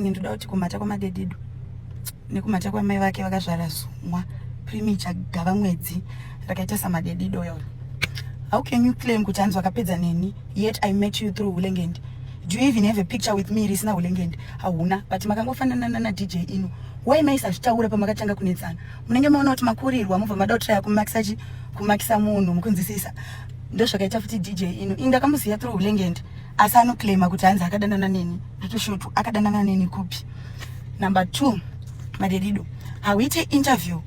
ini ndoda kuti kumhata kwamadedido nekumhata kwamai vake vakazvara zumwa primicha gava mwedzi rakaita samadedido yona how can you claim kuti hanzi wakapedza neni yet i met you through hulengendi do you even have a picture with me risina hulengendi hauna but makangofanana nana dj ino why maisazvitaura pamakatanga kunetsana munenge maona kuti makurirwa mobva mada kutraya kumakisa chi kumakisa munhu mukunzisisa ndozvakaita futi dj ino inga kamuziya through hulengendi asi anoclaima kuti hanzi akadanana neni ndotoshotu akadanana neni kupi number two madedido hauite interview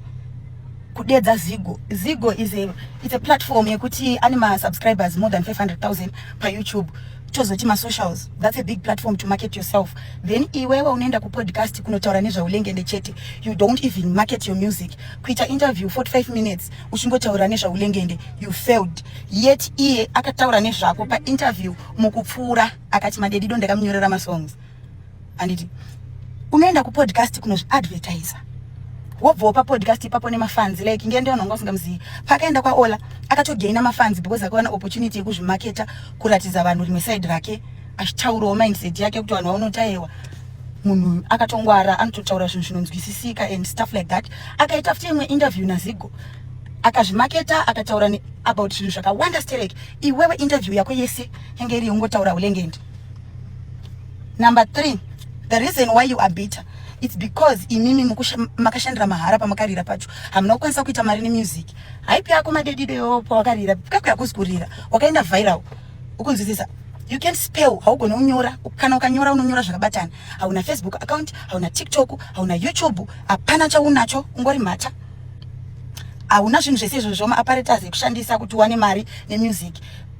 kudedza zigo zigo is a, it's a platform yekuti ane masubscribers more than 500000 payoutube tozoti masocials that's a big platform to market yourself then iwewe unoenda kupodcast kunotaura nezvaulengende chete you don't even market your music kuita interview 45 minutes uchingotaura nezvaulengende you failed yet iye akataura nezvako painterview mukupfuura akati madedido ndakamunyorera masongs anditi unoenda kupodcast kunozviadvertiser wobvawo papodcast ipapo nemafans like nge ndiona wanga usingamuzivi paakaenda kwaola akatogaina mafans because akawana opportunity yekuzvimaketa kuratidza vanhu rimwe side rake achitaurawo mindset yake kuti vanhu vaunotaiwa munhu akatongwara anototaura zvinhu zvinonzwisisika and stuff like that akaita futi imwe interview nazigo akazvimaketa akataura ne about zvinhu zvakawanda sterek iwewe interview yako yese yange iri yongotaura ulengendi number three the reason why you are bitter its because imimi makashandira mahara pamakarira pacho hamuna kukwanisa kuita mari nemusic haipi yako madedideyo pawakarira kako yakuzi kurira wakaenda viral ukunzwisisa you can't spell haugone kunyora kana ukanyora unonyora zvakabatana hauna facebook account hauna tiktok hauna youtube hapana chaunacho ungori mhata hauna zvinhu zvese izvozvo maaparetas ekushandisa kuti uwane mari nemusic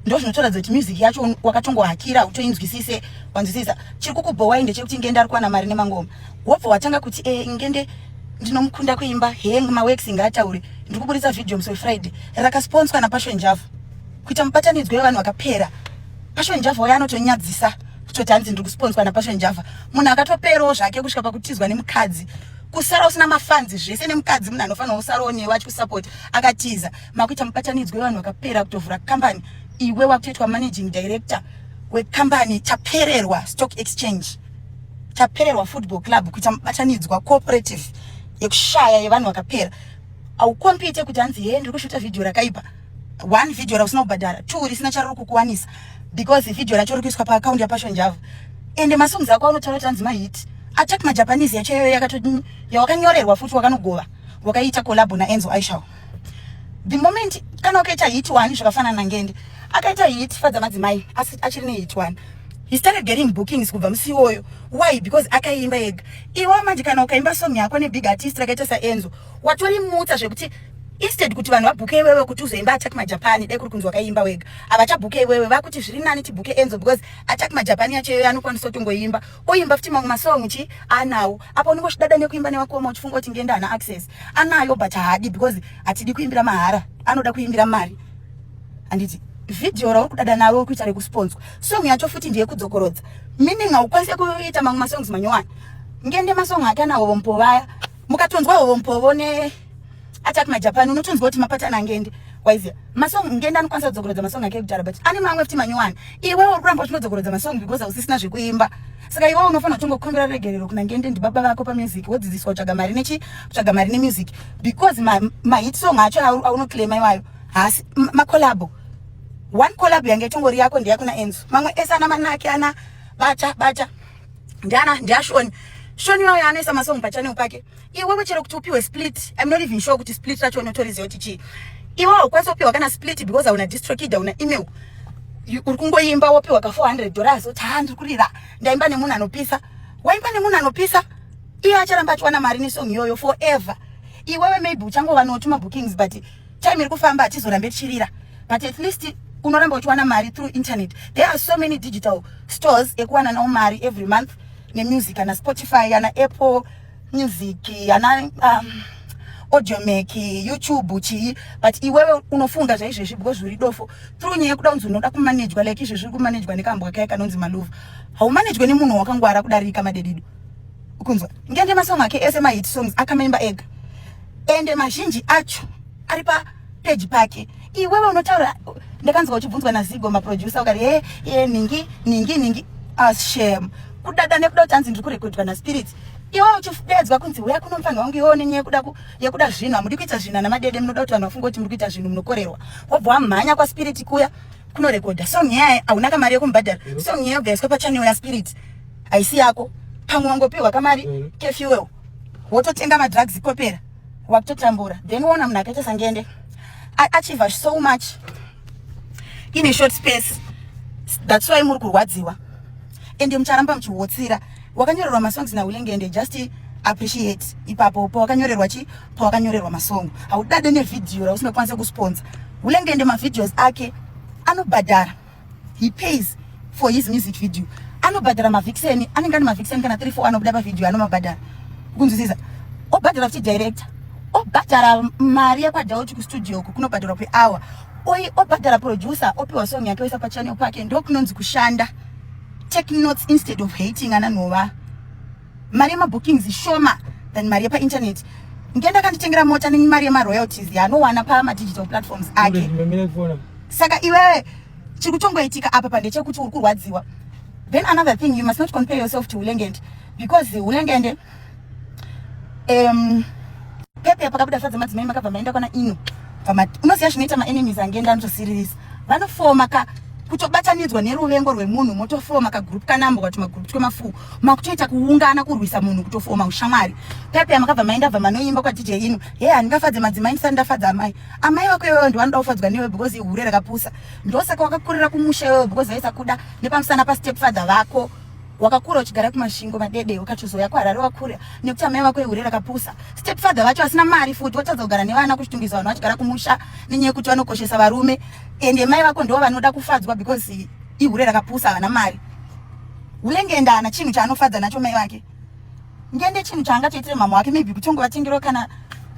ndo zvinotoratidza kuti music yacho wakatongohakira utoinzwisise wanzwisisa chiri kukubhowai ndechekuti ngende ari kuwana mari nemangoma wobva watanga kuti e ngende ndinomukunda kuimba heng mawex ngaataure ndiri kuburitsa video musi wefriday rakasponswa napasho njava kuita mubatanidzwa wevanhu vakapera pasho njava waye anotonyadzisa kutoti hanzi ndiri kusponswa napassion java munhu akatoperawo zvake kusvika pakutizwa nemukadzi kusara usina mafanzi zvese nemukadzi munhu anofanira kusarawo newe achikusapota akatiza makuita mubatanidzwa wevanhu vakapera kutovhura kambani iwe wakutoitwa managing director wekambani tapererwa stock exchange tapererwa football club kuita mubatanidzwa cooperative yekushaya yevanhu vakapera aukompite kuti hanzi hee ndiri kushuta vhidhiyo rakaipa one video rausina kubhadhara two risina chariri kukuwanisa because video racho rikuiswa paakaundi yapasho njava ende masongs ako anotaura kuti anzi mahiti attack majapanese yacho iyoyo yakatodini yawakanyorerwa futi wakanogova wakaita collabo naenzo aishaw the moment kana ukaita hit one zvakafanana nangende akaita hit fadza madzimai asi achiri nehit one he started getting bookings kubva musi iwoyo why because akaimba ega iwo manje kana ukaimba song yako nebig artist rakaita saenzo watori mutsa zvekuti instead kuti vanhu vabhuke iwewe kuti uzoimba attack majapani dai kuri kunzi wakaimba wega havachabhuke iwewe vakuti zviri nani tibhuke enzo because attack majapani yacho iyoyo anokwanisa kutongoimba oimba futi mamwe masong chi anawo apo unenge uchidada nekuimba newakoma uchifunga kuti ngenda ana access anayo but haadi because hatidi kuimbira mahara anoda kuimbira mari handiti vhidhiyo rauri kudada naro uri kuita rekusponswa song yacho futi ndiye kudzokorodza meaning haukwanise kuita mamwe masongs manyowani ngende masong ake anawo vompo vaya mukatonzwa hompovo ne attack my japan unotonzwa kuti mapatana ngende waiziva masong ngende anokwanisa kudzokorodza masong ake ekudhara but ane mamwe futi manyowani iwe uri kuramba uchinodzokorodza masong because hausisina zvekuimba saka iwe unofanira kutongokumbira regerero kuna ngende ndibaba vako pamusic wodzidziswa kutsvaga mari nechi kutsvaga mari nemusic because mahit song acho aunoclaima iwayo haasi macolabo one colabo yange itongori yako ndeyakuna enzo mamwe ese ana manake ana bata bata ndiana ndiashoni shoni wayo anoisa masong pachanel pake iwewe chero kuti upiwe split im not even sure kuti split racho unotoriziva kuti chii iwe haukwanisi kupiwa kana split because hauna distrokid hauna email uri kungoimba wopiwa ka 400 dollars oti haa ndiri kurira ndaimba nemunhu anopisa waimba nemunhu anopisa iye acharamba achiwana mari nesong iyoyo forever iwewe maybe uchangova notuma bookings but time iri kufamba hatizorambe tichirira but at least unoramba uchiwana mari through internet there are so many digital stores ekuwana nawo mari every month nemusic ana spotify ana apple music ana um, audiomac youtube chii but iwewe unofunga zvaizvezvi because zviri dofo through nyaya yekuda kunzi unoda kumanejwa like izvezvi uri kumanejwa nekambwa kaye kanonzi malova haumanejwe nemunhu wakangwara kudarika madedido ukunzwa ngende masong ake ese mahit songs akamaimba ega ende mazhinji acho ari papeji pake iwewe unotaura ndakanzwa uchibvunzwa nazigo maproducer ukati he ye ningi ningi ningi ashem ah, kudada nekuda kuti anzi ndiri kurekodwa naspirit iwe uchideedzwa kunzi huya kuno mufanha wangu iwe unenye yekuda yekuda zvinhu hamudi kuita zvinhu ana madede munoda kuti vanhu vafunge kuti muri kuita zvinhu munokorerwa wobva wamhanya kwaspirit kuya kunorekodha song yaye hauna kamari yekumubhadhara song yaye ubva yaiswa pachanel yaspirit haisi yako pamwe wangopiwa kamari mm. kefuel wototenga madrugs kopera wakutotambura then woona munhu akaita sangende achiva so much in a short space that's why muri kurwadziwa ende mucharamba muchihotsira wakanyorerwa masongs naulengende just appreciate ipapo pawakanyorerwa chi pawakanyorerwa masongo haudade nevhidhiyo rausinokwanisa kusponsa ulengende mavideos ake anobhadhara he pays for his music video anobhadhara mavhikiseni anenge ane mavhikiseni kana 3 4 anobuda pavhidhiyo anomabhadhara kunzwisisa obhadhara kuti director obhadhara mari yakwadauti kustudio uku kunobhadharwa kweawa oyi obhadhara producer opiwa song yake oisa pachanel pake ndokunonzi kushanda take notes instead of hating ana nhova mari yemabookings shoma than mari yepainternet ngenda kanditengera mota nemari yemaroyalties yaanowana pamadigital platforms ake saka iwewe chiri kutongoitika apa pandechekuti uri kurwadziwa then another thing you must not compare yourself to ulengende because ulengende um, pepe pakabuda fadza madzimai makabva maenda kwana ino unoziva zvinoita maenemies angenda anotosiririsa vanofoma ka kutobatanidzwa neruvengo rwemunhu motofoma kagroup kanambwa kuti magroup twemafuu makutoita kuungana kurwisa munhu kutofoma ushamwari pepe amakabva mai ndabva manoimba kwa dj inu he handingafadze madzimai ndisati ndafadza amai amai vako iwewe ndovanoda kufadzwa newe because ihure rakapusa ndosaka wakakurira kumusha iwewe because vaisakuda nepamusana pastep father vako wakakura uchigara kumashingo madede ukachozouya kuharare wakura nekuti amai vako ihure rakapusa step father vacho vasina mari futi votadza kugara nevana kuchitungwiza vanhu vachigara kumusha nenyaya yekuti vanokoshesa varume ende mai vako ndo vanoda kufadzwa because ihure rakapusa havana mari Ule ngenda ana chinhu chaanofadza nacho mai vake. Ngende chinhu chaanga toitire mama wake maybe kutongo vatengero kana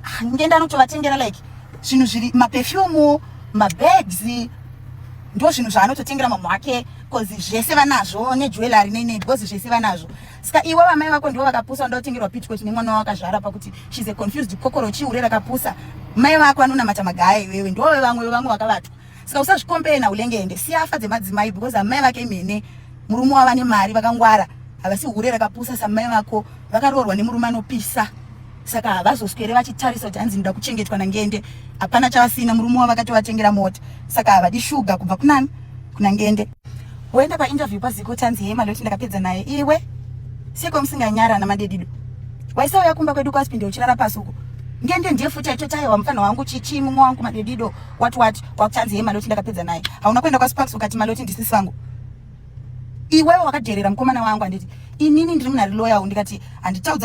ah, ngenda anotovatengera like zvinhu zviri maperfume, mabags ndo zvinhu zvaanototengera mama wake cuz zvese vanazvo ne jewelry nei nei because zvese vanazvo. Ska iwe vamai vako ndivo vakapusa ndo tengerwa pitchcoat nemwana wako akazvara pakuti she's a confused kokoro chiure rakapusa. Mai vako anonamata magaya iwewe ndo vamwe vamwe vakavatwa. saka usazvikompere naulengende siya afa dzemadzimai because amai vake imene murume wava nemari vakangwara havasi hure rakapusa samai vako vakaroorwa nemurume anopisa saka havazoswere vachitarisa kuti hanzi ndoda kuchengetwa nangende hapana chavasina murume wavo akatovatengera mota saka havadi shuga kubva kunani kuna ngende woenda painterview paziko tanzi hema loti ndakapedza naye iwe seko musinganyara namadedido waisauya kumba kwedu kwasipinde uchirara pasi uko ngende ndiye futi aitotaiwa mufana wangu chichi mumwe wangu madedido what what kwakuchanzi ye maloti ndakapedza naye hauna kuenda kwasparks ukati maloti ndisisi vangu iwewe wakadherera mukomana wangu handiti inini ndiri munhari loyawo ndikati handitaudza